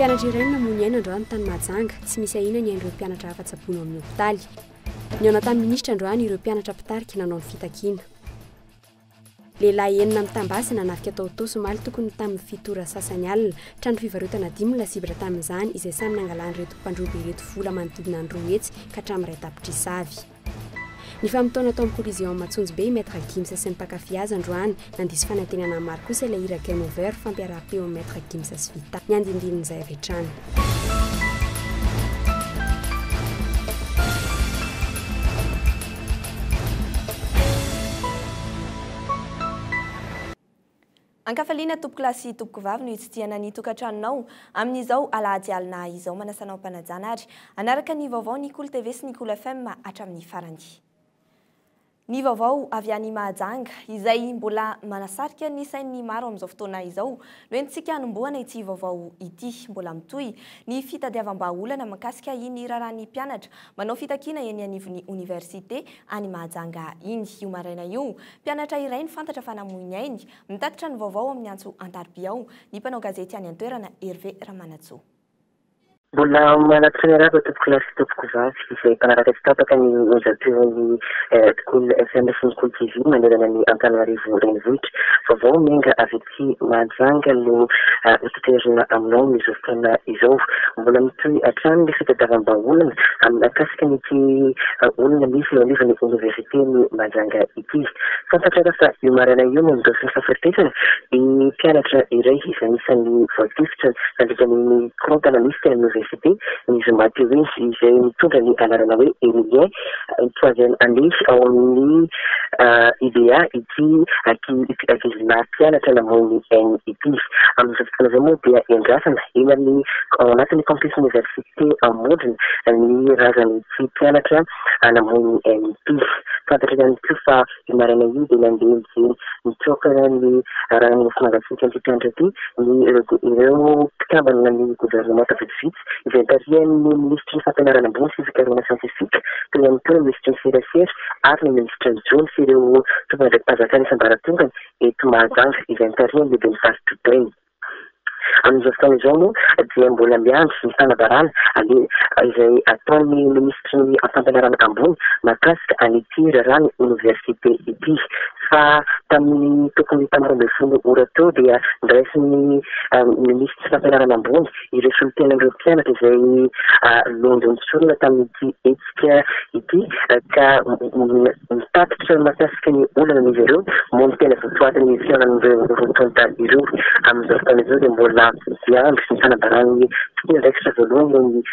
Mpianatra iray no namoy ny aina androany tany Mahajanga. Tsy misy ahiana ny ain'ireo mpianatra hafa tsaboina ao amin'ny hopitaly. Nihaona tamin'ny minisitra androany ireo mpianatra mpitarika nanao ny fitakiana. Lehilahy enina mitam-basy nanafika tao Itaosy omaly tokony ho tamin'ny fito ora sasany alina. Trano fivarotana dimy no lasibatra tamin'izany, izay samy nangalan'ireto mpandroba ireto vola manodidina ny roa hetsy ka hatramin'iray tapitrisa avy. Nifamotoana tao amin'ny Coliseum Matsonjibe i Maître Gims sy ny mpankafy azy androany. Nandiso fanantenana maro kosa ilay hira Game Over fampiaraham-peo amin'i Maître Gims sy Vita. Ny andindinin'izay avy hatrany. Ankafaliana tompokolahy sy tompokovavy no hitsidihana ny tokantranonao amin'izao alahady alina izao. Manasa anao am-panajana ary hanaraka ny vaovao Nikolo TV sy Nikolo FM hatramin'ny farany. Ny vaovao avy any Mahajanga, izay mbola manasarika ny sain'ny maro amin'izao fotoana izao, no entintsika hanombohana ity vaovao ity. Mbola mitohy ny fitadiavam-bahaolana mikasika iny raharahan'ny mpianatra manao fitakiana eny anivon'ny oniversite any Mahajanga iny. Io maraina io, mpianatra iray no fantatra fa namoy ny ainy. Mitatitra ny vaovao amin'ny antso an-tarobia ao ny mpanao gazety any an-toerana, Hervé Ramanantsoa. Mbola manatsoa miarahaba tompokolahy sy tompokovavy izay mpanaraka tsy tapaka ny onjam-peon'ny Cool FM sy ny Cool TV manerana ny Antananarivo renivohitra. Vaovao miainga avy aty Mahajanga no hotaterina aminao amin'izao fotoana izao. Mbola mitohy hatrany ny fitadiavam-bahaolana amin'akasika an'ity olona nisy eo anivon'ny oniversiten'i Mahajanga ity. Tsy fantatra raha fa io maraina io no nidofy ny fahafatesany ny mpianatra iray izay anisan'ny voatifitra nandritra ny mikorontana nisy teny amin'ny oniversite ny zoma teo iny, izay nitondra ny anarana hoe Emilien, troisième année ao amin'ny IBA ity ankizinà mpianatra namoy ny ainy ity. Amin'izao fotoana izao moa dia iandrasana eny amin'ny ao anatin'ny campus-n'ny oniversite. Te hamondrona ny razany tsy mpianatra hanamoy ny MP. Fantatra ihany koa fa io maraina io dia nandeha nijery nitsoaka ny rano nofo mangatsiaka an'ity mpianatra ity ny ireo mpikambana ny governemanta vitsivitsy izay tarihan'ny minisitry ny fampianarana ambony sy fikarohana siantifika, teo ihany koa ny minisitry ny serasera ary ny minisitra Njono sy ireo tompon'andraiki-panjakana isan-baratongany eto Mahajanga izay notarihan'ny lehiben'ny faritr'i Beni. Amin'izao fotoana izao moa dia mbola miandry ny fanabarana aloha izay ataon'ny minisitry ny fampianarana ambony mahakasika an'ity raharahan'ny oniversite ity fa tamin'ny tokony telo ambin'ny folo ora teo dia noraisin'ny minisitry ny fampianarana ambony ireo solontenan'ireo mpianatra izay nondron'ny sorona tamin'ity hetsika ity ka mitatitra mahakasika ny olanan'izy ireo moa ny tena votoatin' ny fihaonan'ireo roa tonta ireo. Amin'izao fotoana izao dia mbola miandry ny fanabaran'ny tomponandraikitra voalohany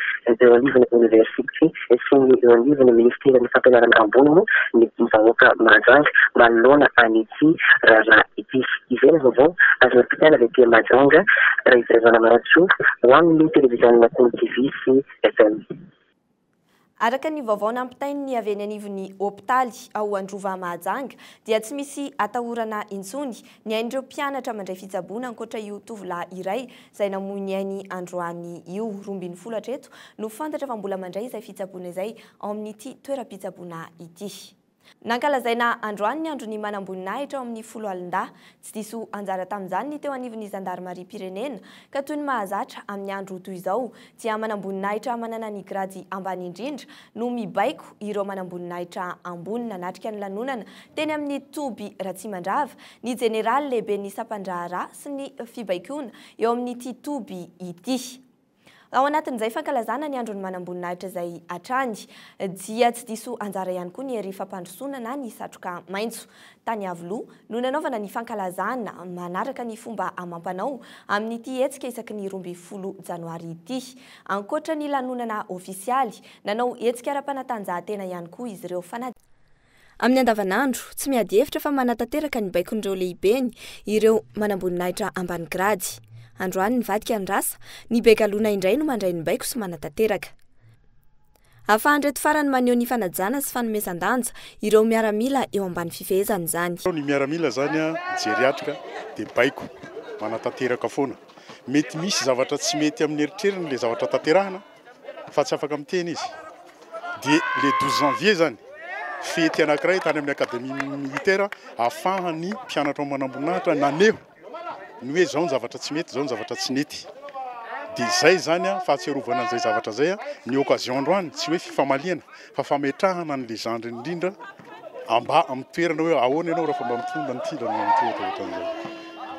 eo anivon'ny oniversite. Esoin'ny eo anivon'ny Ministeran'ny Fampianarana Ambony moa ny vahoaka Mahajanga manoloana an'ity raharaha ity. Izay ny vaovao azo nampitaina avy aty Mahajanga, Raizaivola Maratsoa ho amin'ny Televiziona Kolo TV sy FM. Araka ny vaovao nampitain'ny avy eny anivon'ny hopitaly ao Androva Mahajanga dia tsy misy atahorana intsony ny ain'ireo mpianatra mandray fitsaboana ankoatra io tovolahy iray izay namoy ny ainy androany io. Roa ambin'ny folo hatreto no fantatra fa mbola mandray izay fitsaboana izay ao amin'ity toeram-pitsaboana ity. Nankalazaina androany ny andron'ny manamboninahitra ao amin'ny foloalindahy. Tsy diso anjara tamin'izany ny teo anivon'ny zandarimariam-pirenena, ka toy ny mahazatra amin'ny andro toy izao dia manamboninahitra manana ny grady ambany indrindra no mibaiko ireo manamboninahitra ambony nanatrika ny lanonana teny amin'ny toby Ratsimandrava ny jeneraly lehiben'ny sampan-draharaha sy ny fibaikoana eo amin'ity toby ity. Ao anatin'izay fankalazana ny andron'ny manamboninahitra izay hatrany dia tsy diso anjara ihany koa ny hery fampandrosoana na ny satroka maitso. Tany Iavoloha no nanaovana ny fankalazana manaraka ny fomba amam-panao amin'ity hetsika isaky ny roa ambin'ny folo janoary ity. Ankoatra ny lanonana ofisialy, nanao hetsika ara-panatanjahantena ihany koa izy ireo. Amin'ny andavanandro, tsy miady hevitra fa manatanteraka ny baikon'ireo lehibeny ireo manamboninahitra ambany grady. Androany nivadika ny rasa, ny be galona indray no mandray ny baiko sy manatanteraka. Ahafahan'ireto farany maneho ny fanajana sy fanomezan-danja ireo miaramila eo ambany fifehezana izany. Ny miaramila izany mijery atrika dia baiko, manatanteraka foana. Mety misy zavatra tsy mety amin'ny eritreriny ilay zavatra tanterahina fa tsy afaka miteny izy dia le 12 janvier zany fety anankiray tany amin'ny akademia militaire ahafahan'ny mpianatra ao manamboninahitra naneho ny hoe zao ny zavatra tsy mety zao ny zavatra tsy nety dia izay zany a fahatserovana an'izay zavatra zay a ny occasion androany tsy hoe fifamaliana fa fametrahana ny légende indrindra amba amin'ny toerana hoe ahoana ianao raha fa mba mitondra ny tindra no mitondra ohatra an'izay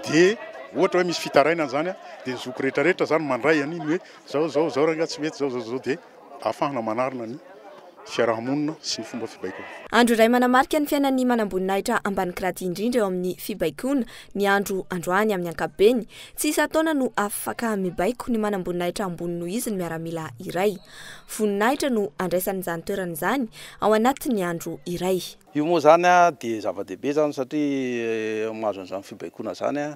dia ohatra hoe misy fitarainana zany a dia ny zoky rehetra rehetra zany mandray an'iny hoe Zao zao zao rangah tsy mety zao zao zao dia afahana manarina ny fiaraha-monina sy ny fomba fibaikoana. Andro iray manamarika ny fiainan'ny manamboninahitra ambany grady indrindra eo amin'ny fibaikoana ny andro androany amin'ny ankapobeny. Tsy isan-taona no afaka mibaiko ny manamboninahitra ambony noho izy ny miaramila iray. Voninahitra no andraisany izany toerana izany ao anatin'ny andro iray. Io moa izany dia zava-dehibe izany satria mahazo an'izany fibaikoana izany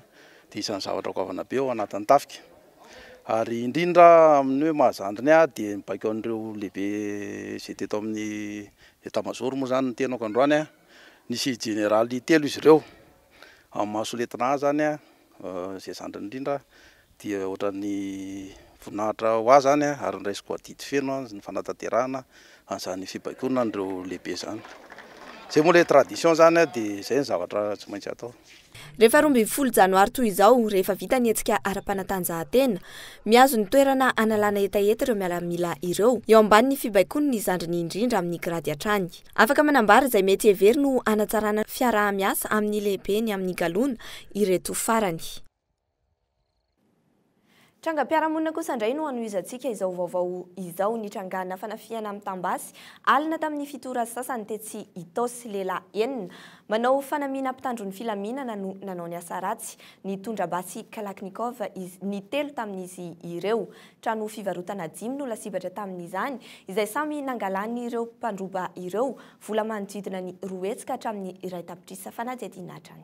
dia isan'ny zavatra goavana be ao anatin'ny tafika. Ary indrindra amin'ny hoe mahazandry ny ahy dia ny baiko an'ireo lehibe izay teto amin'ny État major moa izany no tenako androany. Nisy jeneraly telo izy ireo, amin'ny maha soletina ahy izany izay zandriny indrindra dia ohatran'ny voninahitra ho ahy izany ary noraisiko adidy feno ny fanatanterahana an'izany fibaikoana an'ireo lehibe izany. Izay moa ilay tradition izany dia izay no zavatra tsy maintsy atao. Rehefa roa ambin'ny folo janoary toy izao, rehefa vita ny hetsika ara-panatanjahantena, mihazo ny toerana hanalana hetaheta ireo miaramila ireo, eo ambanin'ny fibaikoany ny zandriny indrindra amin'ny grady hatrany. Afaka manambara izay mety heveriny ho hanatsarana ny fiaraha-miasa amin'ny lehibeny amin'ny galona ireto farany. Trangam-piarahamonina kosa indray no hanohizantsika izao vaovao izao. Nitrangana fanafihana amin'ny tambasy alina tamin'ny fito ora sasany tetsy Itaosy. Lehilahy enina manao fanamiana mpitandro ny filaminana no nanao ny asa ratsy. Nitondra basy Kalachnikov izy ny telo tamin'izy ireo. Trano fivarotana dimy no lasibatra tamin'izany, izay samy nangalan'ireo mpandroba ireo vola manodidina ny roa hetsy ka hatramin'ny iray tapitrisa fanadihadiana hatrany.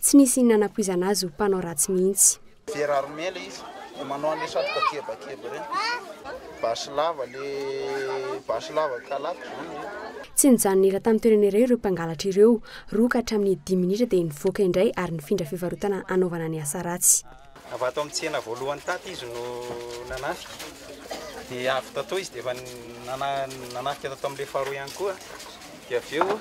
Tsy nisy inona nampoizana azy ho mpanao ratsy mihitsy. Very armé le izy de manao anle satroka kebakeba reny, basy lava le basy lava kalaky zany le. Tsy nijanona ela tamin'ny toerana iray ireo mpangalatra ireo, roa ka hatramin'ny dimy minitra dia nivoaka indray ary nifindra fivarotana hanaovana ny asa ratsy. Avy ato amin'ny tsena voalohany tato izy no nanafika, dia avy tato izy dia efa nanafika tato amin'ilay faharoa ihany koa, dia avy eo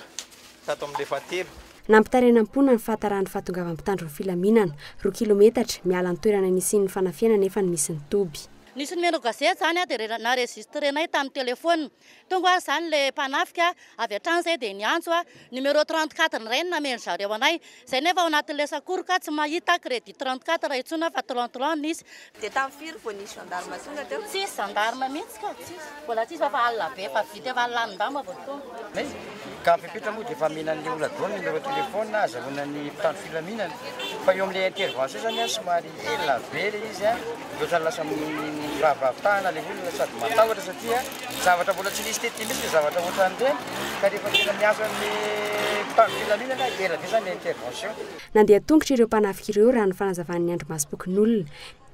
tato amin'ilay fahatelo. Nampitaraina am-poana ny fahatarahan'ny fahatongavan'ny mpitandro ny filaminana. Roa kilometatra, miala ny toerana nisian'ny fanafihana nefa ny misy ny toby. Nisy nomero gazety izany dia naregisitrenay tamin'ny telefaonina. Tonga hoy azy izany ilay mpanafika avy hatrany izay dia niantso numero trente quatre indray no nameno zareo anay. Izay nefa ao anatin'ilay sakoroka tsy mahita credit trente quatre intsony aho fa trente trois no nisy. Dia tamin'ny firy vao nisy gendarme tonga teo? Tsisy gendarme mihitsy ka, mbola tsisy fa efa alina be, efa vita efa lanin-damba vao tonga. Ka fepetra moa dia efa amena an'ilay olona daholo ny numéro téléphone ahazahoana ny mpitandro filaminana. Fa eo amin'ilay intervention izany an, somary ela be ilay izy an, ohatrany lasa miraviravy tànana ilay olona sady matahotra satria zavatra mbola tsy nisy teto mihitsy ny zavatra ohatran'ireny ka rehefa tena miasa amin'ny mpitandro filaminana, ela be izany ilay intervention. Nandeha tongotra ireo mpanafika ireo raha ny fanazavan'ny Andry Masom-pokonolona.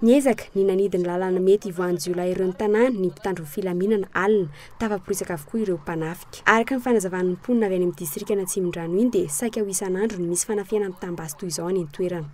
Niezaka ny nanidy ny lalana mety hivoahan'ny jiolahy ireo ny tanàna ny mpitandro ny filaminana alina. Tafaporitsaka avokoa ireo mpanafika. Araka ny fanazavan'ny mponina avy any amin'ny distrikan'Atsimondrano iny dia saika ho isan'andro no misy fanafihana mitam-basy toy izao any an-toerana.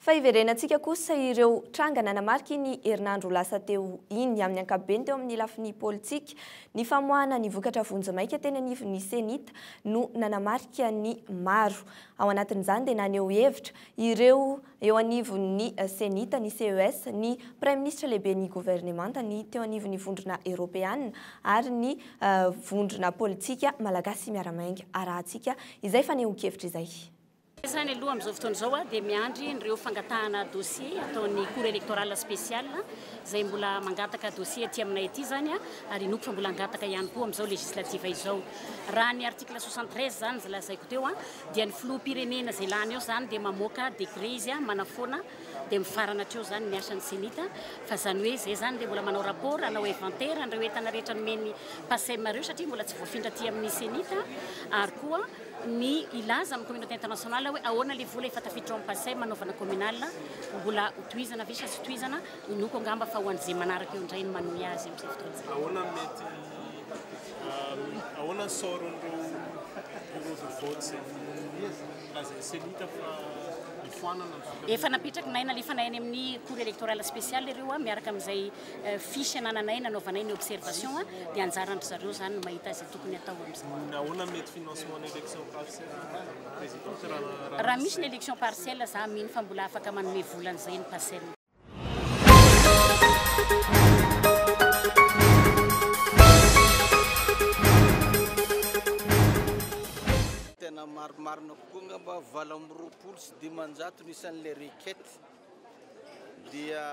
Fa hiverenantsika kosa ireo tranga nanamarika iny herinandro lasa teo iny, amin'ny ankapobeny teo amin'ny lafiny politika. Ny famoahana ny vokatra vonjimaika teny anivon'ny Cenit no nanamarika ny maro. Ao anatin'izany dia naneho hevitra ireo eo anivon'ny Cenit ny CES, ny Praiminisitra lehiben'ny governemanta, ny teo anivon'ny vondrona eropeanina ary ny vondrona politika malagasy miara-miainga arahantsika izay fanehoan-kevitra izay. Sahy aloha amin'izao fotoana izao dia miandry ireo fangatahana dossier ataon'ny Cour électorale spéciale izay mbola mangataka dossier aty aminay aty izany ary inoako fa mbola hangataka ihany koa amin'izao législative izao. Raha ny article 73 izany izay lazaiko teo dia ny filoham-pirenena izay lany eo izany dia mamoaka décret izy manafoana dia mifarana hatreo izany ny asan'ny cenit fa izany hoe izay izany dia mbola manao rapport hanao inventaire an'ireo entana rehetra nomen'ny PACEM ireo satria mbola tsy voafindra aty amin'ny cenit ary koa ny hilaza amin'ny communauté internationale hoe ahoana ilay vola efa tafiditra ao amin'ny Pasem hanaovana communale, mbola ho tohizana ve sa tsy tohizana, inoako angamba fa ho an'ny ze manaraka eo indray ny manohy azy amin'izay fotoana izay. Ahoana ny mety ahoana ny sort-n'ireo bureaux de vote izay nolazain'ny ceni ka fa hifoanana ny vola? Efa napetraky nahy nalefa nahy any amin'ny cour electorale spéciale ireo miaraka amin'izay fiche anananay nanaovanay ny observation dia anjaran-dry zareo izany ny mahita izay tokony hatao amin'izany. Nahoana ny mety financement ny élection partielle Madame Présidente raha raha misy? Raha misy ny élection partielle za mino fa mbola afaka manome vola an'izay ny PACEL. Tena marimarina kokoa angamba valo amby roapolo sy dimanjato ny isan'ilay requête. Dia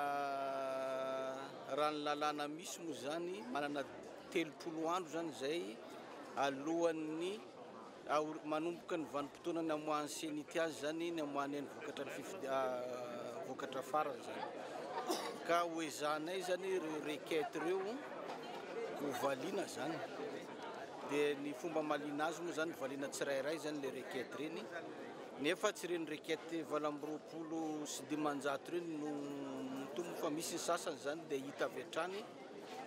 raha ny lalàna misy moa izany, manana telopolo andro izany izay alohan'ny aori- manomboka ny vanim-potoana namoahan'ny CENI-T azy izany, namoahany ny vokatra ny fifidi- ah, vokatra farany izany. Ka hoezahanay izany ireo requête ireo hovaliana izany. Dia ny fomba hamaliana azy moa izany, hovaliana tsirairay izany ilay requête ireny. Nefa tsy ireny requête valo amby roapolo sy dimanjato ireny no mitombo fa misy ny sasany izany dia hita avy hatrany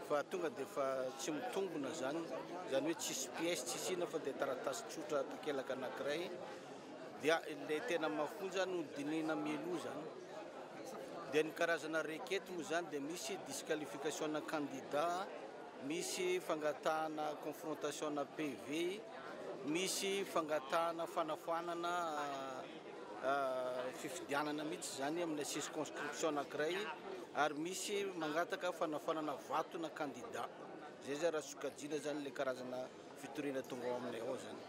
fa tonga dia efa tsy mitombona izany, izany hoe tsisy pièce tsisy inona fa dia taratasy tsotra takelaka anankiray dia ilay tena mafonja no dinihina mialoha izany. Dia ny karazana requête moa izany dia misy disqualification-na candidat, Misy fangatahana confrontation na PV, misy fangatahana fanafoanana fifidianana mihitsy izany amina circonscription anankiray ary misy mangataka fanafoanana vato na candidat. Izay izany raha sokajiana izany ilay karazana fitoriana tonga ao aminay ao izany.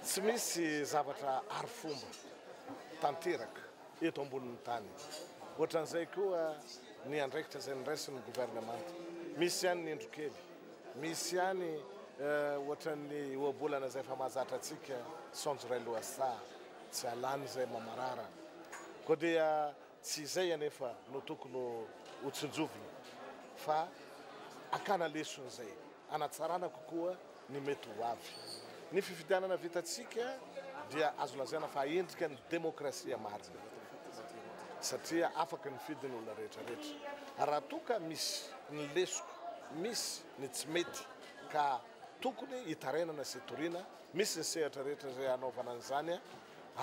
Tsy misy zavatra arifomba tanteraka eto ambonin'ny tany. Ohatran'izay koa ny andraikitra izay niraisin'ny governemanta. Misy ihany ny indro kely, misy ihany ohatran'ny ohabolana izay efa mahazatra antsika saonjo iray lohasaha. Tsy halany izay mamarara. Koa dia tsy izay anefa no tokony ho tsinjovina fa hakana lesona izay hanatsarana kokoa ny mety ho avy. Ny fifidianana vitantsika dia azo lazaina fa endrika ny demokrasia marina satria afaka nifidy ny olona rehetrarehetra. Raha toa ka misy ny lesoka, misy ny tsy mety ka tokony hitarainana sy toriana Misy ny sehatra rehetra izay hanaovana an'izany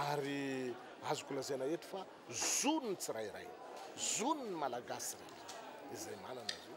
ary azoko lazaina eto fa zon'ny tsirairay, zon'ny Malagasy rehetra izay manana azy io.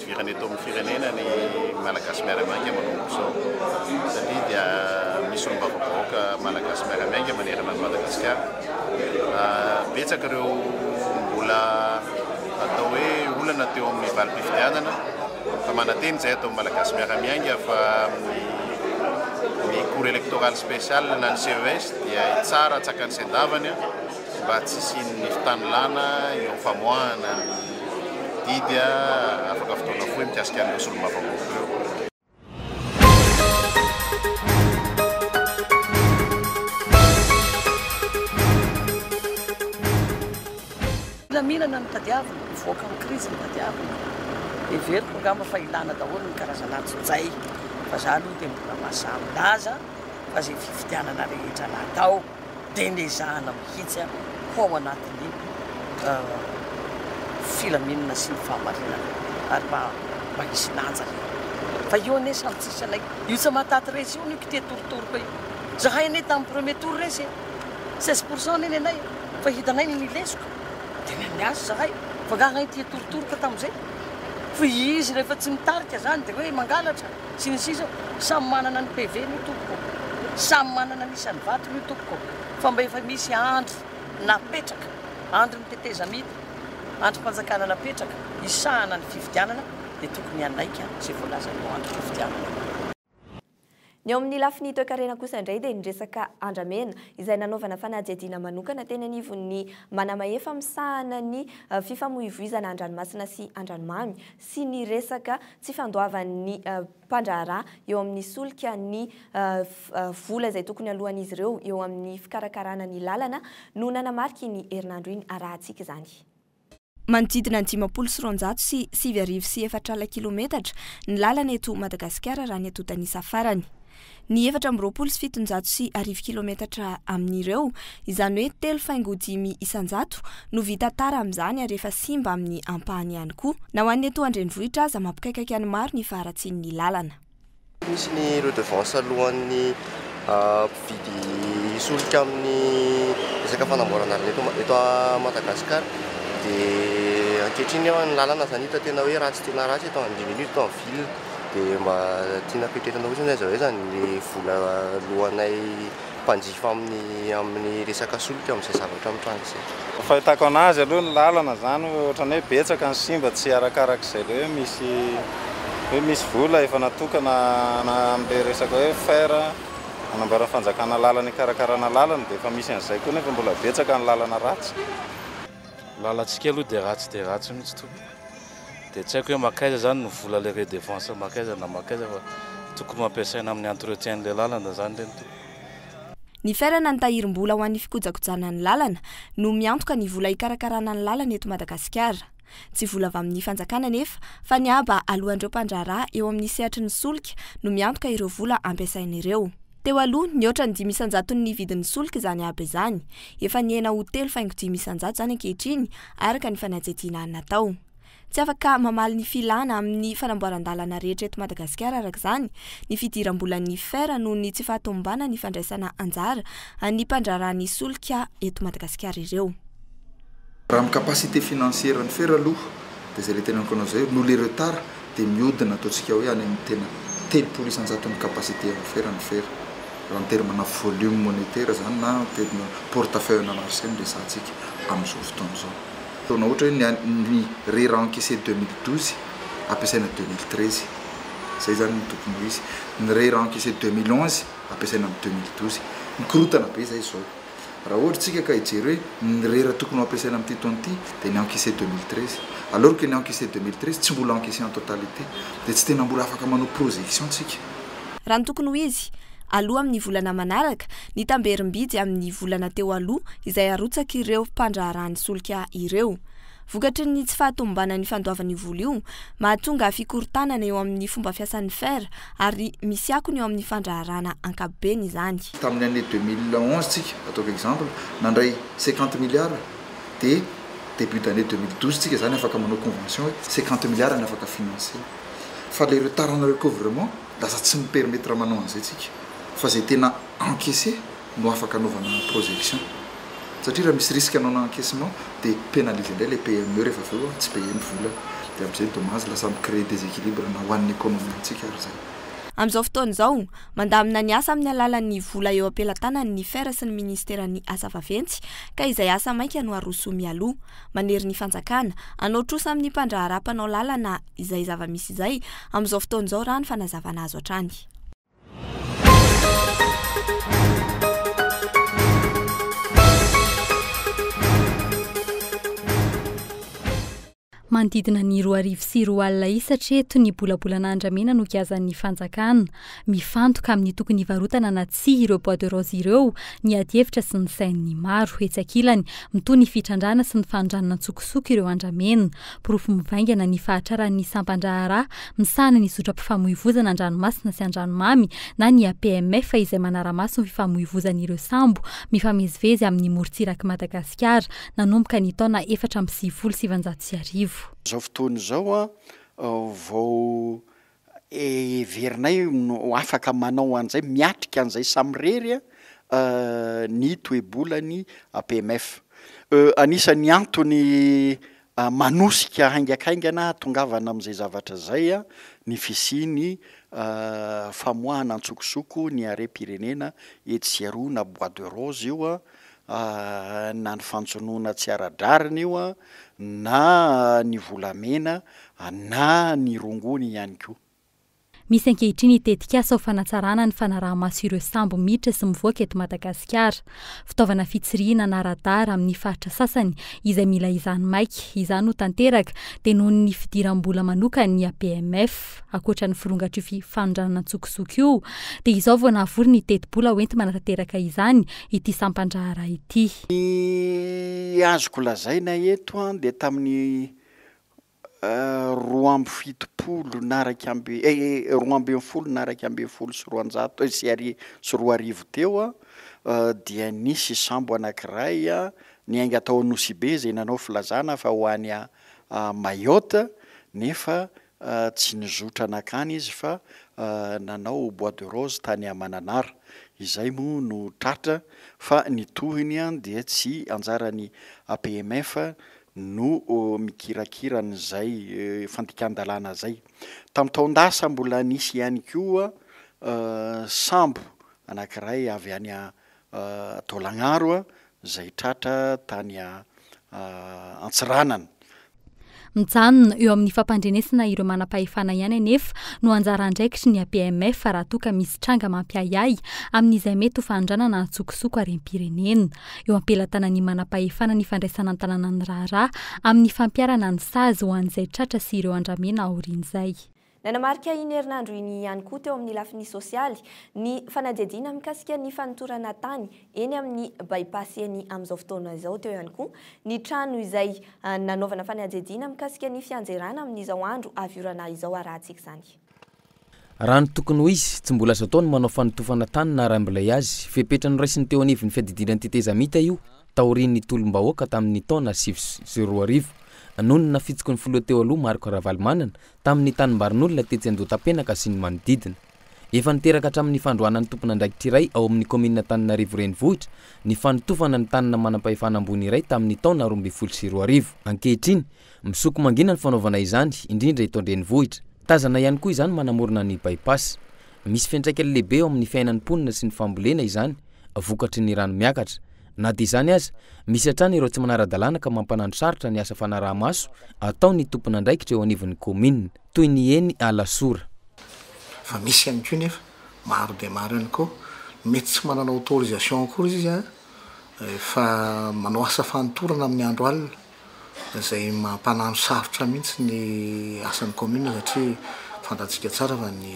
Hidirana eto amin'ny firenena ny Malagasy miara-miainga manomboka izao satria dia misy solombavambahoaka Malagasy miara-miainga manerana an'i Madagasikara. Betsaka ireo mbola atao hoe olana teo amin'ny valim-pifidianana fa mananteny izay ataon'ny Malagasy miara-miainga fa ny Cour électorale spéciale na ny CES dia tsara tsakan'ny sendavany. mba tsy hisian'ny fitanilana eo amin'ny famoahana ny didy afaka fotoana fohy mikasika an'ireo solombavambahoaka ireo. Filaminana no tadiavina, mivoaka amin'ny krizy no tadiavina. Heveriko angamba fa ilana daholo ny karazana antsojay fa za aloha dia mbola mahasahy milaza fa izay fifidianana rehetra natao. dia nezahana mihitsy ho ao anatin'ny filaminana sy ny fahamarinana ary mba mba hisy lanja re fa io anie samy tsisy anay io tsy mahataty resy io no kite torotoroko io zahay anie tamin'ny premier tour resy e seize pour cent anie ny anay fa hitanay ny nilesiko dia ny an'ny azy zahay fa angaha anay tia torotoroko tamin'izay fa izy rehefa tsy mitarika zany dia hoe mangalatra Sy ny sisa, samy manana ny PV ny tompoko, samy manana ny isan'ny vatony io tompoko fa mba efa misy andry napetraka, andrin'ny tetezamita, andrim-panjakana napetraka hisahana ny fifidianana dia tokony hanaiky izay voalazan'io andrim-pifidianana io. Ny eo amin'ny lafiny toekarena kosa indray dia ny resaka andramena izay nanaovana fanadihadiana manokana teny anivon'ny Manamahefa misahana ny fifamoivoizana an-dranomasina sy an-dranomamy sy ny resaka tsy fandoavan'ny mpandraharaha eo amin'ny solika ny vola izay tokony aloan'izy ireo eo amin'ny fikarakarana ny lalana no nanamarika iny herinandro iny arahantsika izany. Manodidina ny dimampolo sy roanjato sy sivy arivo sy efatra kilômetatra ny lalana eto Madagasikara raha ny antontan'isa farany. ny efatra amby roapolo sy fitonjato sy arivo kilometatra amin'ireo, izany hoe telo faingo dimy isan-jato, no vita tara amin'izany ary efa simba amin'ny ampahany ihany koa. Na ho an'ny eto an-drenivohitra aza, mampikaikaika ny maro ny faharatsian'ny lalana. Misy ny redevance alohan'ny mpividy hisolika amin'ny resaka fanamboaran-dalana eto eto Madagasikara dia ankehitriny ny lalana izany hita tena hoe ratsy tena ratsy eto amin'ny ville. dia mba tiana petretina fotsiny aiza ho aiza ny vola alohanay mpanjifa aminy aminy resaka solika amin'izay zavatra mitranga izay. Ny fahitako anazy aloha ny lalana zany hoe ohatrany hoe betsaka ny simba tsy arakarak'izay le hoe misy hoe misy vola efa natokana ana amle resaka hoe fer anamboaran'ny fanjakana lalana hikarakarana lalana dia efa misy an'izay koa nefa mbola betsaka ny lalana ratsy. Ny lalantsika aloha dia ratsy dia ratsy mihitsy tompoko. Dia tsy haiko hoe makaiza zany ny vola le redevance makaiza na makaiza fa tokony ho ampiasaina amin'ny entretien le lalana zany le ny tokony. Ny ferana ny tahirim-bola ho an'ny fikojakojana ny lalana no miantoka ny vola hikarakarana ny lalana eto Madagasikara. Tsy vola avy amin'ny fanjakana anefa fa ny haba aloan'ireo mpandraharaha eo amin'ny sehatry ny solika no miantoka ireo vola ampiasaina ireo. Teo aloha, nihoatra ny dimy isan-jatony ny vidin'ny solika izany aba izany. Efa nihena ho telo faingo dimy isan-jato izany ankehitriny, araka ny fanadihadiana natao. Tsy afaka mamaly ny filana amin'ny fanamboaran-dalana rehetra eto Madagasikara, araka izany, ny fidiram-bolan'ny fer noho ny tsy fahatomombanan'ny fandraisana anjara an'ny mpandraharaha ny solika eto Madagasikara ireo. Raha amin'ny capacité financière an'i Ferre aloha dia izay le teneniko anao izay, noho le retard dia mihodina ataontsika hoe any amin'ny tena telopolo isan-jaton'ny capacité an'i Ferre ny Ferre, raha ny terme na volume monétaire izany na terme portefeuille na marché no resahantsika amin'izao fotoana izao. Ataonao ohatra hoe ny an'i, ny rera encaissé deux mille douze ampiasaina deux mille treize, izay izany no tokony ho izy. Ny rera encaissé deux mille onze ampiasaina amin'ny deux mille douze. Mikorontana be izay izao. Raha ohatra isika ka hijery hoe ny rera tokony ho ampiasaina amin'ity taona ity dia ny encaissé deux mille treize. Alors que ny encaissé deux mille treize tsy mbola encaissé en totalité. Dia tsy tena mbola afaka manao projection tsika. Raha ny tokony ho izy, aloa amin'ny volana manaraka, ny tamberim-bidy amin'ny volana teo aloha izay arotsak'ireo mpandraharaha ny solika ireo. Vokatry ny tsy fahatomombanan'ny fandoavan'io vola io, mahatonga fikorontanana eo amin'ny fomba fiasan'ny fer ary misy akony eo amin'ny fandraharahana ankapobeny izany. Tamin'ny année deux mille onze tsika, ataovy exemple, nandray cinquante milliards, dia début d'année deux mille douze tsika izany afaka manao convention hoe cinquante milliards ny afaka financer. Fa ilay retard-na recouvrement lasa tsy mi-permettre manao an'izay tsika. Fa izay tena encaisser. no afaka anaovana projection satria raha misy risque non encaissement dia penaliser indray ilay PME rehefa avy eo tsy payer ny volany dia amin'izay dommage lasa mi-creer déséquilibre na ho an'ny economie antsika ary izay. Amin'izao fotoana izao, mandamina ny asa amin'ny alalan'ny vola eo am-pelatanany ny fer sy ny minisiteran'ny asa vaventy ka izay asa maika no aroso mialoha. Manery ny fanjakana, hanao trosa amin'ny mpandraharaha mpanao lalana izay zava-misy izay amin'izao fotoana izao raha ny fanazavana azo hatrany. Manodidina ny roa arivo sy roa alina isa hatreto ny bolabolana andramena nogiazan'ny fanjakana. Mifantoka amin'ny tokony hivarotana na tsia ireo bois de rose ireo ny adihevitra sy ny sain'ny maro. Etsy ankilany, mitohy ny fitrandrahana sy ny fanondranana an-tsokosoko ireo andramena. Porofo mivaingana ny fahatraran'ny sampan-draharaha misahana ny zotram-pifamoivozana an-dranomasina sy an-dranomamy na ny APMF izay manara-maso ny fifamoivozan'ireo sambo mifamezivezy amin'ny morontsirak'i Madagasikara nanomboka ny taona efatra amby sivifolo sy sivinjato sy arivo. Izao fotoana izao vao heverinay ho afaka manao an'izay, miatrika an'izay samirery ny toe-bolan'ny APMF. Anisan'ny antony manosika haingakaingana hahatongavana amin'izay zavatra izay ny fisian'ny famoahana antsokosoko ny harem-pirenena etsy sy eroa na bois de rose io na ny fanjonoana tsy ara-drariny io, na ny volamena, na ny rongony ihany koa. Misy ankehitriny tetikasa ho fanatsarana ny fanaraha-maso ireo sambo miditra sy mivoaka eto Madagasikara. Fitaovana fitsirihina na radar amin'ny faritra sasany izay mila izany maika izany ho tanteraka dia noho ny fidiram-bola manokan'ny APMF. hafa ankoatra ny firongatr'io fi- fanondranana an-tsokosoko io, dia izao vao nahavory ny tetibola hoenti-manatanteraka izany ity sampan-draharaha ity. Ny azoko lazaina eto an, dia tamin'ny roa amby fitopolo na iraika amby eh, roa ambin'ny folo na iraika ambin'ny folo sy roanjato eh, sy ari- sy roa arivo teo an, dia nisy sambo anankiray niainga tao Anosibe izay nanao filazana fa ho any Mayotte, nefa Tsy nizotra nankany izy fa nanao bois de rose tany Mananara. Izay moa no tratra fa ny tohiny dia tsy anjaran'ny APMF no mikirakira an'izay fandikan-dalàna izay. Tamin'ny taon-dasa mbola nisy ihany koa sambo anankiray avy any Taolagnaro izay tratra tany Antsiranana. Mijanona eo amin'ny fampandrenesana ireo manam-pahefana ihany anefa no anjara andraikitry ny APMF raha toa ka misy tranga mampiahiahy amin'izay mety ho fanondranana an-tsokosoko harem-pirenena. Eo am-pelatanan'ny manam-pahefana ny fandraisana an-tanana ny raharaha amin'ny fampiharana ny sazy ho an'izay tratra sy ireo andramena aorian'izay. Nanamarika iny herinandro iny ihany koa teo amin'ny lafiny sosialy ny fanadihadiana mikasika ny fanotorana tany eny amin'ny By-pass eny amin'izao fotoana izao. Teo ihany koa ny trano izay nanaovana fanadihadiana mikasika ny fianjerana amin'izao andro avy orana izao arahantsika izany. Raha ny tokony ho izy, tsy mbola azo atao ny manao fanotofana tany na raim-bilay azy. Fepetra noraisiny teo anivon'ny fiadidiana ny tetezamita io taorian'ny tolom-bahoaka tamin'ny taona sivy sy roa arivo. Nonina fitsiky ny filoha teo aloha Marc Ravalomanana tamin'ny tanimbarin'olona tetsy Andohatapenaka sy ny manodidina. Efa niteraka hatramin'ny fandroahana ny tompon'andraikitra iray ao amin'ny kaominina Antananarivo Renivohitra ny fanotofana ny tanana manam-pahefana ambony iray tamin'ny taona roa ambin'ny folo sy roa arivo. Ankehitriny, misoko mangina ny fanaovana izany, indrindra eto an-drenivohitra. Tazana ihany koa izany manamorona ny By-pass. Misy fiantraikany lehibe eo amin'ny fiainan'ny mponina sy ny fambolena izany, vokatry ny rano miakatra. Na dia izany aza, misy hatrany ireo tsy manara-dalàna ka mampanano sarotra ny asa fanaraha-maso ataon'ny tompon'andraikitra eo anivon'ny kaominina, toy ny eny Alasora. Fa misy ihany koa nefa, maro dia maro ihany koa, mety tsy manana autorisation akory izy fa manao asa fanintorana amin'ny andro alina. izay mampanano sarotra mihitsy ny asan'ny commune satria fantantsika tsara fa ny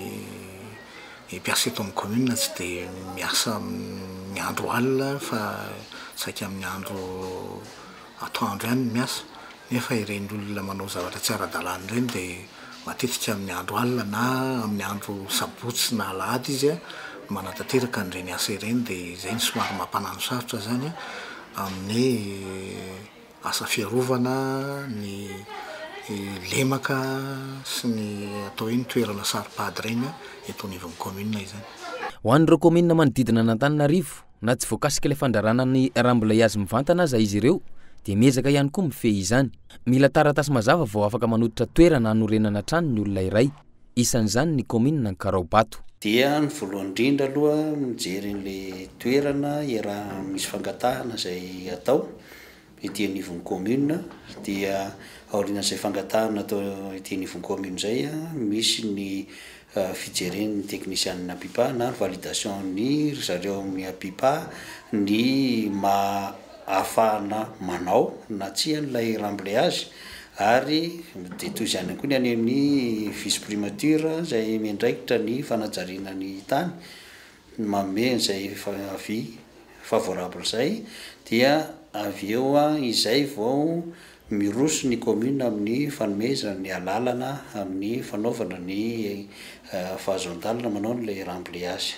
mpiasa eto amin'ny commune tsy dia miasa amin'ny andro alina fa saika amin'ny andro atoandro ihany no miasa nefa ireny olona manao zavatra tsy ara-dalàna ireny dia matetika amin'ny andro alina na amin'ny andro sabotsy na alahady izy no manatanteraka an'ireny asa ireny dia izay no somary mampanano sarotra izany amin'ny asa fiarovana ny lemaka sy ny atao hoe ny toerana saro-pady ireny eto anivon'ny kaominina izany. Ho an'ireo kaominina manodidina an'Antananarivo, na tsy voakasika ilay fandraràna ny rambon'ilay hazo mivantana aza izy ireo, dia miezaka ihany koa mifehy izany. Mila taratasy mazava vao afaka manototra toerana hanorenana trano ny olona iray. isan'izany ny kaominina Ankaraobato. Dia ny voalohany indrindra aloha mijery an'ilay toerana iaraha misy fangatahana izay atao ety anivon'ny kaominina, dia aorian'izay fangatahana atao ety anivon'ny kaominina izay misy ny fijeren'ny teknisianina Apipa na ny validation-n'ny ry zareo amin'ny Apipa ny maha afahana manao na tsia an'ilay ramblayazy, Ary dia toy izany ihany koa ny any amin'ny vice primature izay miandraikitra ny fanajariana ny tany, ny manome an'izay avis favorable izay dia avy eo izay vao miroso ny commune amin'ny fanomezana ny alalana amin'ny fanaovana ny fahazoan-dalana manao an'ilay ramblayage.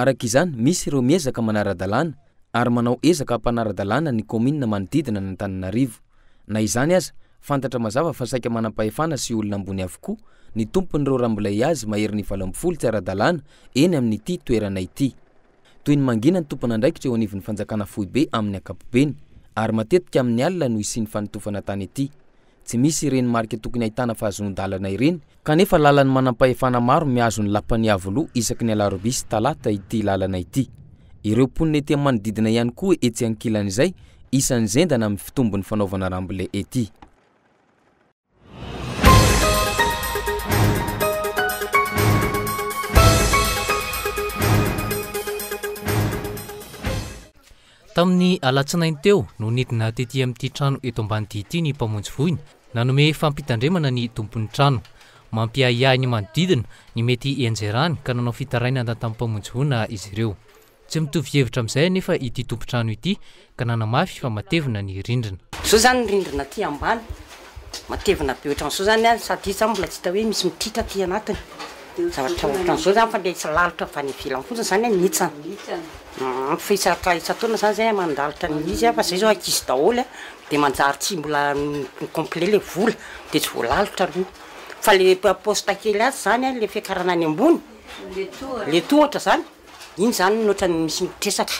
Araka izany, misy ireo miezaka manara-dalàna ary manao ezaka hampanara-dalàna ny kaominina manodidina an'Antananarivo. Na izany aza, fantatra mazava fa saika manam-pahefana sy olona ambony avokoa ny tompon'ireo rambolay azy maherin'ny valo ambin'ny folo tsy ara-dalàna eny amin'ity toerana ity. Toy ny mangina ny tompon'andraikitra eo anivon'ny fanjakana foibe amin'ny ankapobeny ary matetika amin'ny alina no hisian'ny fanotofana tany ity. Tsy misy ireny marika tokony ahitana fahazoan-dalana ireny, kanefa lalan'ny manampahefana maro mihazo ny lapan'i Iavoloha isaky ny alarobia sy talata ity lalana ity. Ireo mponina ety amin'ny manodidina ihany koa etsy ankilan'izay, isan'ny zendana amin'ny fitombon'ny fanaovana rambile ety. Tamin'ny alatsinainy teo no nidina tety amin'ity trano eto Ambanidia ity ny mpamonjy voina nanome fampitandremana ny tompon'ny trano. Mampiahiahy ny manodidina ny mety hianjerany ka nanao fitarainana tamin'ny mpamonjy voina izy ireo. Tsy mitovy hevitra amin'izay anefa ity tompon-trano ity ka nanamafy fa matevina ny rindrina. Zao zany ny rindrina aty ambany. Matevina be ohatran'izao zany an, sady izy zany mbola tsy hita hoe misy mititra aty anatiny, zavatra ohatran'izao zany fa le izy lalitra avy any ivelany fotsiny zany an mihitsana, fa isa-taona isa-taona zany zay mandalitra ny izy an, fa zay zao ankizy daholo an, de manjary tsy mbola complet le vola de tsy voalalitra aloha, fa le poste kely atsy zany an le fiakarana any ambony le tohatra zany Iny izany no ohatran'ny misy mitresaka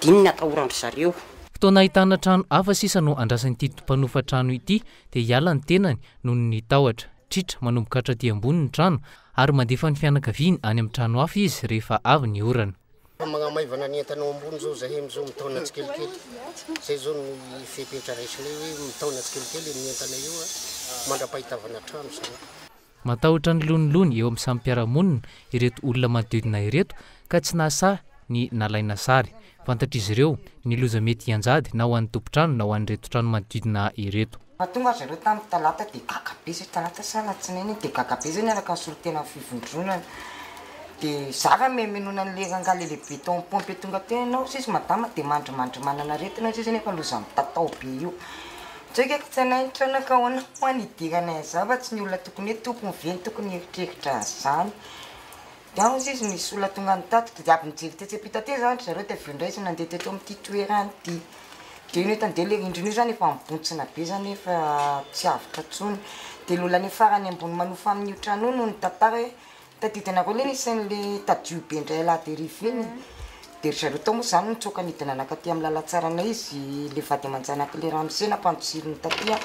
dia iny no atahoran-dry zareo. Fotoana ahitana trano hafa sisa no andrasan'ity mpanofa trano ity dia hiala ny tenany noho ny tahotra. Tritra manomboka hatraty ambony ny trano ary mandefa ny fianakaviany any amin'ny trano hafa izy rehefa avy ny orana. Efa magnamaivana ny entana ao ambony izao izahay amin'izao mitaona tsikelikely. Izay izao no fepetra raisinay hoe mitaona tsikelikely ny entana eo mandra-pahitavana trano izany. Matahotra ny lonilony eo amin'ny samy mpiara-monina ireto olona manodidina ireto ka tsy nahasahy ny nalaina sary. Fantatr'izy ireo ny loza mety hianjady na ho an'ny tompon-trano na ho an'ireto trano manodidina ireto. Raha tonga zareo tamin'ny talata dia gaga be zay talata sa alatsinainy iny dia gaga be zay niaraka nisolo-tena amin'ny fivondronana dia za raha mihaminona an'ilay rangahy lehilebe tao amin'ny pompe tonga teo ianao hozizy madama dia mandrimandrimanana aretina hozizy nefa loza mitatao be io Joika ko tsainay ny taona ka ahoana hoa ny hidiranay aza fa tsy ny olona tokony hoe tompony ve no tokony hieritreritra an'izany? Dia hozy izy nisy olona tonga nitatitra dia avy nijery tetsy ampita tetsy izany ry zareo dia avy eo indray izy nandeha teto amin'ity toerana ity. Dia io nahita an'izay ilay rindrina io izany efa mibontsina be izany hoe efa tsy avotra intsony. Dia ilay olona any farany ambony manofa amin'io trano io no nitantara hoe Tadidina koa ilay isan'ilay tadio be indray alahady hariva iny dia ry zareo tao moa izany nitsoaka nidina nanakaty amin'ny lalan-tsaranay izy ilay vady aman-janak'ilay ramose nampanjohiriny taty an!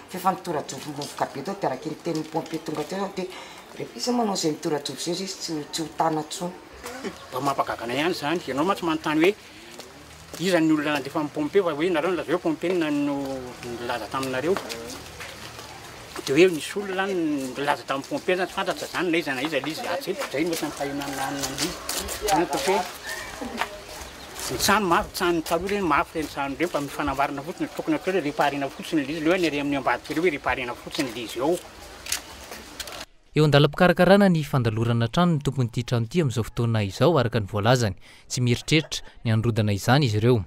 fa efa nitora-jovom-bovoka be tao dia araka ny tenin'ny pompier tonga teo izany dia rehefa iza manao izay mitora-jovo izay izy tsy tsy ho tana intsony. Mba mampagaga anay ihany izany, ianao mantsy manontany hoe. Iza ny olona nandefa ny pompe fa hoe nareo nilazao hoe pompe no nilaza taminareo de hoe nisy olona nilaza tamin'ny pompe zany tsy fantatra zany na iza na iza le izy atsy eto zay no ohatran'ny fahenana anona an'io zany ataoko hoe ny trano mafy trano taloha reny mafy reny trano reny fa mifanambarina fotsiny tokony atao hoe reparena fotsiny le izy le hoe ny ary amin'ny ambadika reo hoe reparena fotsiny le izy ao Eo an-dalam-pikarakarana ny fandalorana trano ny tompon'ity trano ity amin'izao fotoana izao, araka ny voalazany. Tsy mieritreritra ny hanorodana izany izy ireo.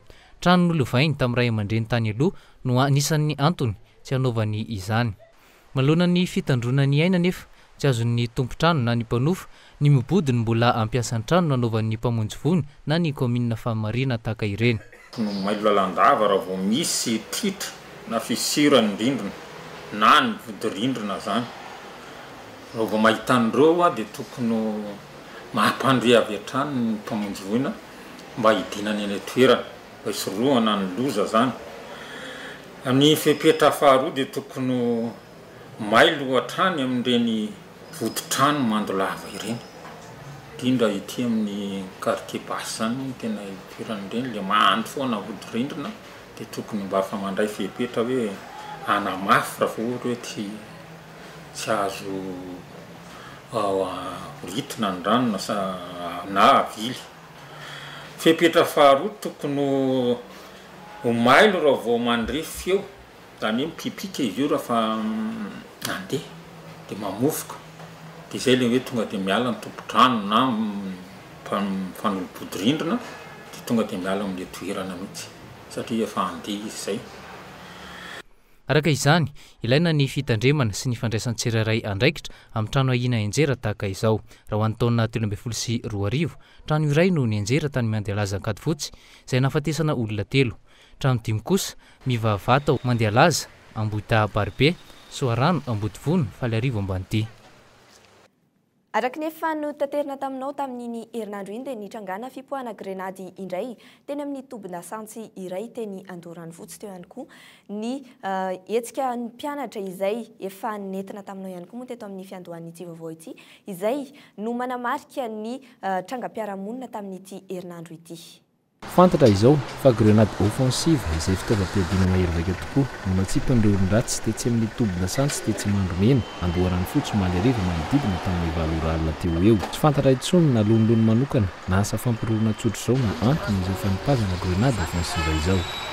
Trano nolovainy tamin'ny ray aman-dreny tany aloha no anisan'ny antony tsy hanaovany izany. Manoloana ny fitandroana ny aina anefa, tsy azon'ny tompon-trano na ny mpanofo ny mibodo ny mbola hampiasa ny trano nanaovan'ny mpamonjy vono na ny kaominina famarinana tahaka ireny. Tokony mailo lalandava raha vao misy tritra na fissure ny rindrina na ny vodirindrina zany. Raha vao mahita an'ireo dia tokony mampandre avy hatrany ny mpamonjy voina mba hidinany any an-toerana mba hisorohana ny loza zany. Ny fepetra faharoa dia tokony ho. May loha hatrany amin'ireny vodi-trano mando lava ireny, indrindra ety amin'ny quartier basse zany no tena ipoiran'ireny, le mando foana hodi-rindrina, de tokony mba fa mandray fepetra hoe hanamafy raha vao ohatra hoe tsy tsy azo ritina ny rano na sa na avily. Fepetra faharoa tokony ho ho mailo raha vao mandre feo Zany hoe mipipika izy io raha fa mandeha dia mamofoka dia izay ilay hoe tonga dia miala ny tompon-drano na mifanolo-bodirindrina dia tonga dia miala amin'ilay toerana mihitsy satria efa handeha izy izay. Araka izany, ilaina ny fitandremana sy ny fandraisan'ny tsirairay andraikitra amin'ny trano ahiana henjera tahaka izao. Raha ho an'ny taona telo ambin'ny folo sy roa arivo, trano iray no nihenjera tany Miandrialaza Ankadifotsy, izay nahafatesana olona telo. Trano dimy kosa, mivahavaha tao, Mandialaza, Ambohidahabaribe, Soarano, Ambodivona, Faliarivo Ambanidia. Araka ny efa notaterina taminao tamin'iny herinandro iny dia nitrangàna fipoahana grenady indray teny amin'ny tobin-dasantsy iray teny Andoharanofotsy teo ihany koa ny hetsika ny mpianatra izay efa nentina taminao ihany koa moa teto amin'ny fiandohan'ity vaovao ity izay no manamarika ny trangam-piarahamonina tamin'ity herinandro ity. Fantatra izao fa grenade offensive izay fitaovam-piadiana mahery vaika tokoa no natsipin'ireo olon-dratsy tetsy amin'ny toby lasantsy tetsy Mandromena, Andoharanofotsy omaly hariva manodidina tamin'ny valo ora alina teo ho eo. Tsy fantatra intsony na lonilony manokana na asa fampiroroana tsotra izao no antony izao fanipazana grenade offensive izao.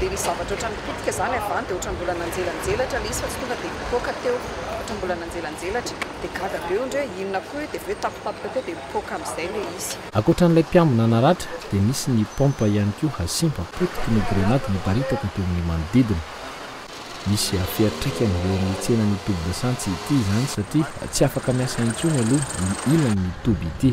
Dia ny zavatra ohatran'ny pitika izany avy any dia ohatran'ny mbola nanjelanjelatra ilay izy fa tsy tonga dia nipoaka teo. Ohatran'ny mbola nanjelanjelatra. Dia gaga be io indray hoe inona koa io dia avy eo tapitapika teo dia mipoaka amin'izay ilay izy. Ankoatran'ilay mpiambina naratra dia nisy ny pompe ihany koa hasimba potiky ny grenady niparitaka teo amin'ny manodidina. Misy fiatraikany eo amin'ny tsenan'ny toby dasantsy ity izany satria tsy afaka miasa intsony aloha ny ilan'ny toby ity.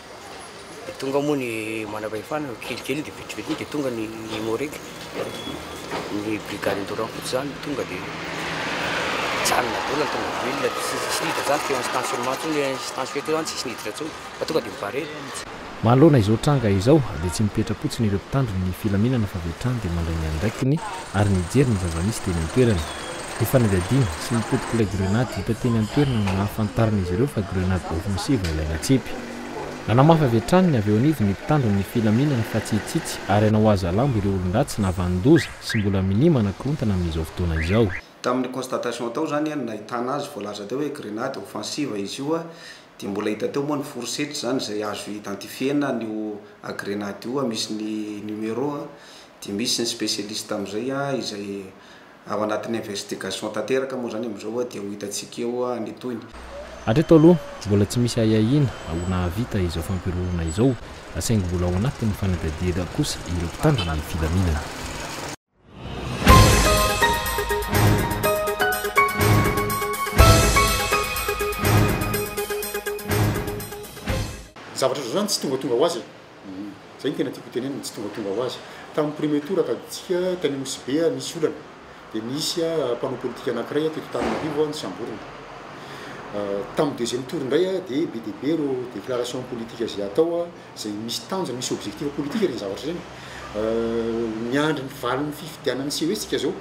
Dia tonga moa ny manam-pahefana, kelikely dia vitsivitsy moa dia tonga ny Imorec, ny brigade Andoran fotsy izany no tonga dia nijanona daholo ny tomobile, tsy nisy niditra izany teo amin'ny stationnement teo, ilay instance feu teo izany tsisy niditra intsony fa tonga dia mi-barrer. Manoloana izao tranga izao dia tsy mipetra-potsiny ireo mpitandro ny filaminana fa avy hatrany dia mandray ny andraikiny ary nijery ny zava-misy teny an-toerana. Ny fanadihadiana sy ny potik'ilay grenady hita teny an-toerana no nahafantaran'izy ireo fa grenady ôfensiva ilay natsipy. Nanamafy avy hatrany ny avy eo anivon'ny mpitandro ny filaminana fa tsy hitsitsy ary hanao hazalambo ireo olon-dratsy na vanin-doza sy mbola minia manakorontana amin'izao fotoana izao. Tamin'ny constatation tao izany no nahitana azy, voalaza teo hoe grenady ôfensiva izy io dia mbola hita teo moa ny fourchette izany izay azo identifier-na an'io grenady io, misy ny numéro dia misy ny spécialiste amin'izay izay Ao anatin'ny investigation tanteraka moa izany amin'izao dia ho hitantsika eo ny tohiny. Hatreto aloha, mbola tsy misy ahiahiana ho nahavita izao fampihorohoroana izao, saingy mbola ao anatin'ny fanadihadiana kosa ireo mpitandro ny filaminana. Zavatra izao izany tsy tongatonga ho azy e! Izay no tena tiako hotenenina, ny tsy tongatonga ho azy. Tamin'ny premier tour tadidintsika tany Nosy Be nisy olana, dia nisy mpanao politika anankiray teto Antananarivo nosamborina. Tamin'ny deuxième tour indray dia be dia be ireo déclaration politique izay atao, izay misy tanjona, misy objectif politique ireny zavatra ireny. Miandry ny valin'ny fifidianana sy hoe isika izao.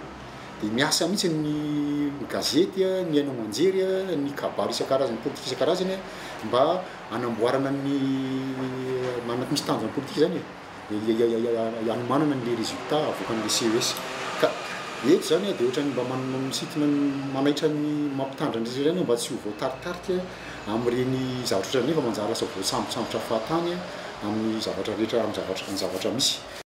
Dia miasa mihitsy ny gazety, ny haino aman-jery, ny kabary isan-karazany, politika isan-karazany mba. hanamboarana ny manana misy tanjona politika zany e, ny hanomanana an'le resultat avoakan'le CES. Ka eto zany a de ohatran'ny mba manintona ny manaitra ny mampitandrina ny resaresaina aho mba tsy ho voataritarika amin'ireny zavatra ohatran'ireny fa manjary lasa voasambosambotra fahatany amin'ny zavatra rehetra amin'ny zavatra amin'ny zavatra misy.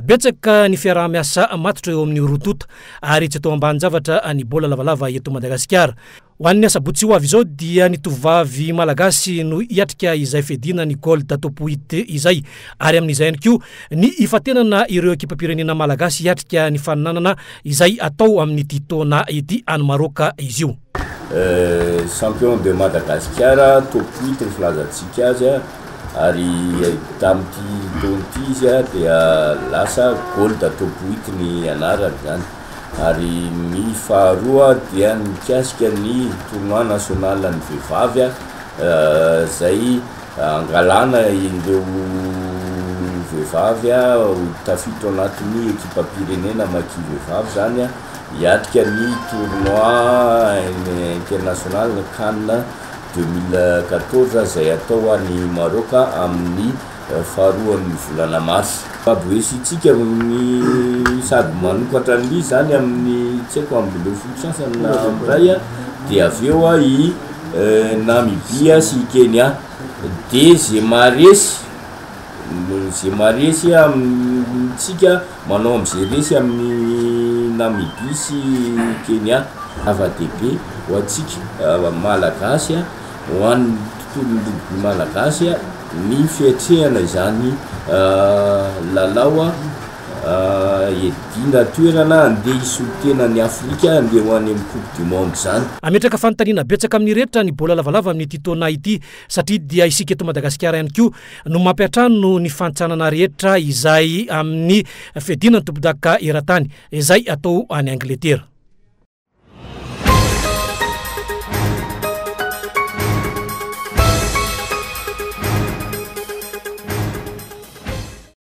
Betsaka ny fiaraha-miasa matotra eo amin'ny roa tonta ary tsy atao ambanin-javatra ny baolina lavalava eto Madagasikara. Ho an'ny asabotsy ho avy izao dia ny tovovavy malagasy no hiatrika izay fiadiana ny Gold Top Huit izay ary amin'izay ihany koa ny hifantenana ireo ekipam-pirenena malagasy hiatrika ny faninanana izay atao amin'ity taona ity any Maroc izy io. Champion de Madagasikara top huit ny filazantsika azy ary tamin'ity taona ity izy dia lasa gold top huit ny anarany izany ary ny faharoa dia mikasika ny tournoi national an'ny vehivavy izay hangalana ireo vehivavy ho tafiditra ao anatin'ny ekipam-pirenena maki-vehivavy izany. Hiatrika ny tournoi international Can deux mille quatorze izay hatao any Maroc amin'ny faharoan'ny volana marsa. Mahaboesintsika ny sady manokatra ny izany amin'ny tsy haiko ambin'ny folo sasany na amin'ny iray dia avy eo i Namibia sy i Kenya dia ze maharesy Noho izay maharesy amintsika manao amin'izay resy amin'i Namibia sy Kenya. Zava-dehibe ho antsika Malagasy, ho an'ny tontolon'ny rugby malagasy ny fiatrehana izany lalao hiadiana toerana handeha hisolo tena an'i Afrika handeha ho any amin'ny coupe du monde izany. Hametraka fanontaniana betsaka amin'ny rehetra ny baolina lavalava amin'ity taona ity satria dia isika eto Madagasikara ihany koa no mampiantrano ny fantsànana rehetra izay amin'ny fiadiana ny tompondaka eran-tany izay atao any Angletera.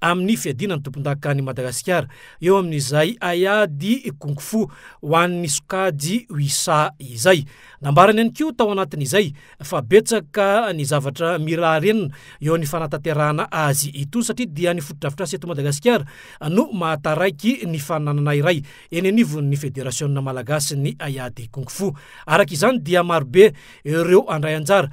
amin'ny fiadiana ny tompondaka any Madagasikara eo amin'izay haiady kung fu ho an'ny sokajy Wisa izay. Nambarany ihany koa tao anatin'izay fa betsaka ny zavatra mila renina eo ny fanatanterahana azy itony satria dia ny fotodrafitrasa eto Madagasikara no mahataraiky ny fananana iray eny anivon'ny Federasiona Malagasin'ny haiady kung fu. Araka izany dia marobe ireo handray anjara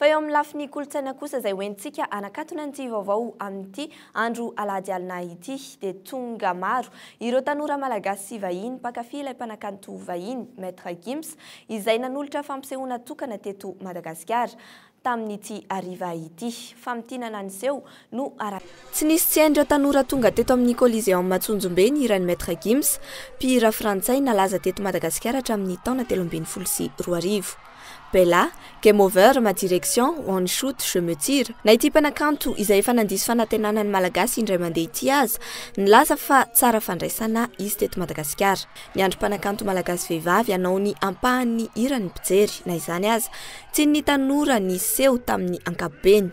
Fa eo amin'ny lafiny kolontsaina kosa izay hoentintsika hanakatona an'ity vaovao amin'ity andro alahady alina ity dia tonga maro ireo tanora malagasy sy vahiny mpankafy ilay mpanakanto vahiny Maître Gims izay nanolotra fampisehoana tokana teto Madagasikara tamin'ity hariva ity. Famintinana niseho no. Tsy nisy tsy hain'ireo tanora tonga teto amin'ny Coliseum Antsonjombe ny hiran'i Maître Gims, mpihira frantsay nalaza teto Madagasikara hatramin'ny taona telo ambin'ny folo sy roa arivo. Bella, Game Over, Ma Direction, One Shoot, Je Me Tire, na ity mpanakanto izay efa nandiso fanantenana ny Malagasy indray mandeha ity aza, nilaza fa tsara fandraisana izy teto Madagasikara. Niandry mpanakanto malagasy vehivavy hanao ny ampahan'ny hirany ny mpijery. Na izany aza, tian'ny tanora ny seho tamin'ny ankapobeny.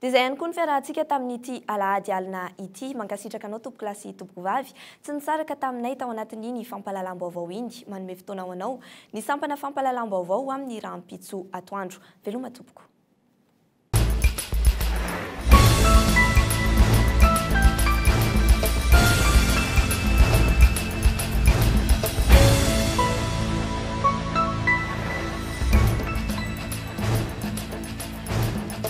Dia izay ihany koa ny fiarahantsika tamin'ity alahady alina ity. Mankasitraka anao tompokolahy sy tompokovavy tsy nisaraka taminay tao anatin'iny fampahalalam-baovao iny. Manome fotoana ho anao ny sampana fampahalalam-baovao ho amin'ny rahampitso atoandro. Veloma tompoko.